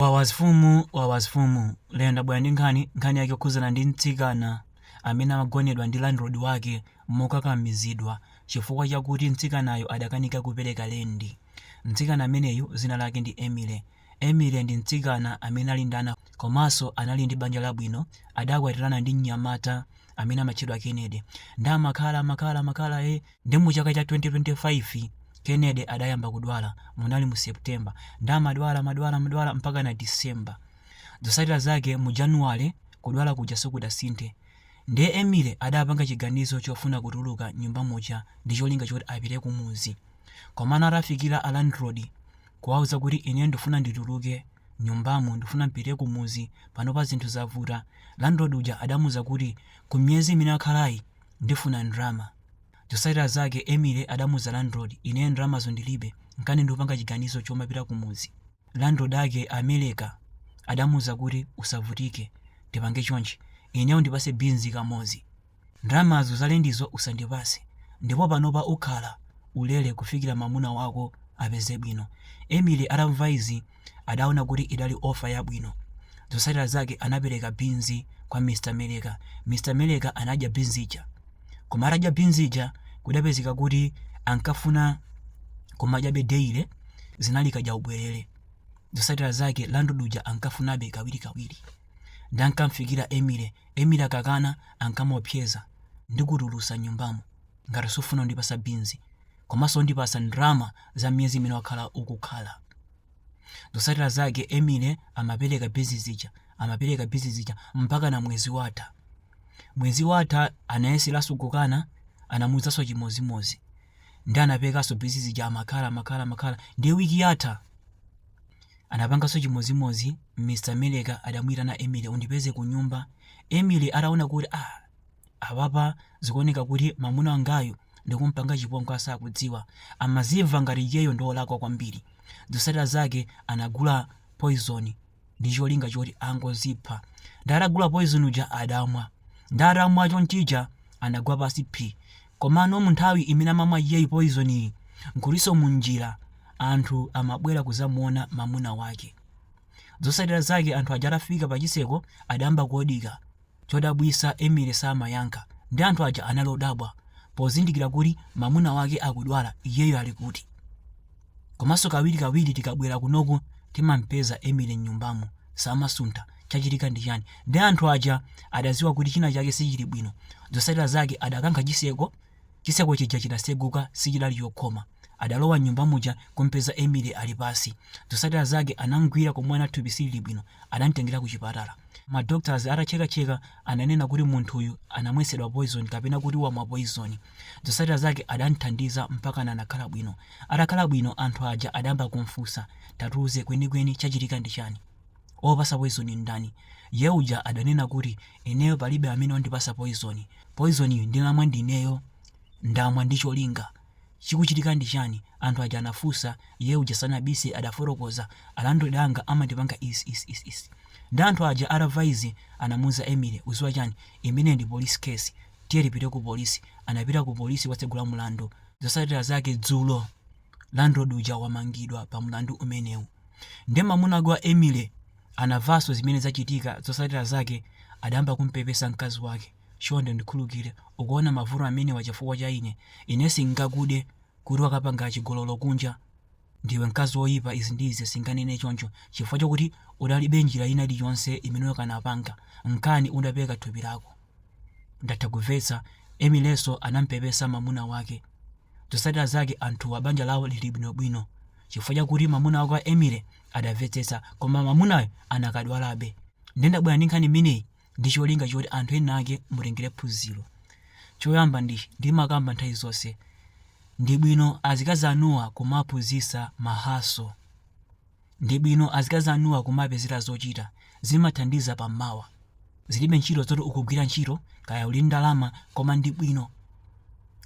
Wawas fumu wawas fumu lero ndabwera ndi nkhani, nkhani yake yokhudzana ndi mtsikana amene amagonedwa ndi landlord wake mokakamizidwa chifukwa chakuti mtsikanayo adakanika kupereka lendi. Mtsikana ameneyu dzina lake ndi Emily. Emily ndi mtsikana amene ali ndi ana komanso anali ndi banja labwino adakwatirana ndi mnyamata amene amatchedwa Kennedy nde amakhala makhala makhala eh. Nde mu chaka cha 2025 Kennedy adayamba kudwala, munali mu September, nde amadwala madwala madwala mpakana December. Zosatira zake mu January kudwala kuja sikudasinthe. Nde Emily adapanga chiganizo chofuna kutuluka nyumba muja ndi cholinga choti apite kumudzi. Komano atafikira a landlord kuwawuza kuti ineyo ndifuna ndituluke nyumbamu ndifuna mpite kumudzi panopa zinthu zavuta, landlord uja adamuuza kuti ku miyezi imene akhalayi, Ndifuna ndrama. Zosatira zake Emily adamuuza landlord ineyo ndramazo ndilibe nkani ndupanga chiganizo chomapita kumudzi. Landlord ake a Meleka adamuuza kuti usavutike tipange chonchi ineyo undipase beans kamodzi ndramazo za lendizo usandipase ndipo panopa ukhala ulere kufikira mamuna wako apeze bwino. Emily atamva izi. Adaona kuti idali offer yabwino. Zotsatira zake anapereka beans kwa Mr Meleka. Mr Meleka anadya beans ija. Koma atadya beans ija kudapezeka kuti ankafuna kumadyabe daily, zinali kadyaubwelere. Zotsatira zake landlord uja ankafunabe kawirikawiri. Nde ankamfikira Emily, Emily akakana ankamuopseza, Ndikutulutsa mnyumbamo ngati sufuna kundipatsa beans. komanso undipatsa ndalama za miyezi imene wakhala ukukhala. Zotsatira zake Emily amapereka beans zija, amapereka beans zija mpakana mwezi watha. Mwezi watha anayeseranso kukana, anamuwuzanso chimodzimodzi. Ndiye anaperekanso beans zija amakhala, amakhala, amakhala. Ndiye wiki yatha anapanganso chimodzimodzi Mr. Meleka adamuyitana Emily undipeze ku nyumba. Emily ataona kuti ah Apapa zikuoneka kuti mamuna wangayu ndikumpanga chipongwe asakudziwa. Amazimva ngati iyeyo ndiolakwa kwambiri. Zosatira zake anagula poison ndicholinga choti angozipha. Nde atagula poison uja adamwa. Nde atamwa chonchija anagwa pansi phi. Komano munthawi imene amamwa iyeyu poison yi nkutinso munjira anthu amabwera kuzamuona mamuna wake. Zosatira zake anthu aja atafika pachiseko adayamba kuodika. Chodabwisa Emily samayankha nde anthu aja anali odabwa pozindikira kuti mamuna wake akudwala iyeyo ali kuti? Komanso kawiri kawiri tikabwera kunoku timampeza Emily mnyumbamu samasuntha chachitika ndi chani? Nde anthu aja adaziwa kuti china chake sichili bwino zosatira zake adakankha chiseko Chitseko chija chinaseguka sichidali chokhoma. Adalowa mnyumba muja kumpeza Emily ali pansi. Zosatira zake anamgwira komwe anaona thupi silili bwino. Adamtengera kuchipatala. Ma doctors atachekacheka ananena kuti munthuyu anamwetsedwa poison kapena kuti wamwa poison. Zosatira zake adamthandiza mpakana anakhala bwino. Atakhala bwino anthu aja adayamba kumfunsa, tatuuze kwenikweni chachitika ndi chani? Wokupasa poizoni n'ndani? Ye uja adanena kuti, Ineyo palibe amene wandipasa poizoni. Poizoniyu ndamwa ndi ineyo. Ndamwa ndi cholinga. Chikuchitika ndi chani? Anthu aja anafunsa. Ye uja sanabise adafotokoza. Alandlord anga amandipanga izi izi izi izi. Nde anthu aja atamva izi anamuuza Emily, ukuziwa chani? Imeneyi ndi police case. Tiye tipite ku police. Anapita ku police kukatsegula mlandu. Zosatira zake dzulo. landlord uja wamangidwa pa mlandu umenewu nde mamuna wake wa Emily anavaso zimene zachitika zosatira zake adayamba kumpepesa mkazi wake chonde ndikhulukire ukuwona mavuto amenewa chifukwa cha ine ine sindingakude kuti wakapanga chigololo kunja ndiwe mkazi woyipa izi ndi izi sindinganene choncho chifukwa chokuti udalibe njira ina iliyonse imene ukanapanga nkana udapereka thupi lako ndatha kuvetsa Emily naso anampepesa mamuna wake Zotsatira zake anthuwa banja lawo lili bwinobwino chifukwa chakuti mwamuna wake wa Emily adamvetsetsa koma mwamunayo akadadwalabe. Ndiye ndabwera ndi nkhani imeneyi ndi cholinga choti anthu enaake mutengere phunziro. Choyamba ndi ndimakamba nthawi zonse, ndi bwino azikazi anuwa kumawaphunzitsa mahaso. Ndibwino azikazi anuwa kumapezera zochita, zimathandiza pa mmawa. Zilibe ntchito zoti ukugwira ntchito kaya uli ndi ndalama koma ndi bwino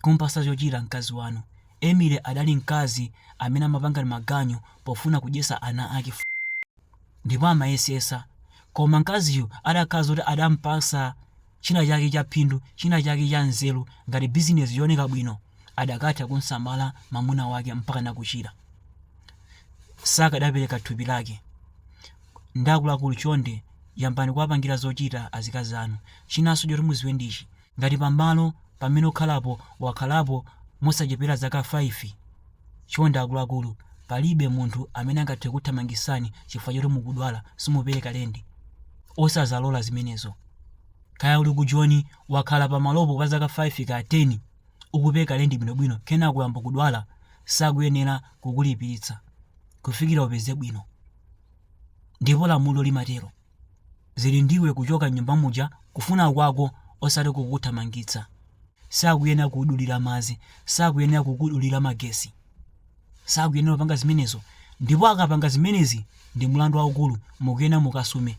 kumupasa chochita mkazi wanu. Emily adali mkazi amene amapanga maganyu pofuna kudyesa ana ake 4 ndipo amayesesa koma mkaziyu adakhala zoti adampasa china chake cha phindu, china chake cha nzeru, ngati bizinesi yooneka bwino, akadatha kumsamala mamuna wake mpakana kuchira. Sakadapereka thupi lake. Nde akuluakulu chonde yambani kuwapangira zochita azikazi anu. Chinanso choti muziwe ndichi, ngati pamalo pamene ukukhalapo wakhalapo mosachepera zaka 5, chonde akuluakulu palibe munthu amene angathe kukuthamangisani chifukwa choti mukudwala, simupereka lendi. Osamazalola zimenezo. Kaya uli ku Joni, wakhala pamalopo kwa zaka 5 kaya 10, ukupereka lendi bwinobwino kenako uyamba kudwala, sakuyenera kukulipiritsa kufikira upeze bwino. Ndipo lamulo limatero. Zili ndi iwe kuchoka m'nyumba muja kufuna kwako osati kukuthamangitsa. Sakuyenera kukudulira madzi, sakuyenera kukudulira magesi. Sakuyenera kupanga zimenezo. Ndipo akapanga zimenezi ndi mlandu waukulu, mukuyenera mukasume.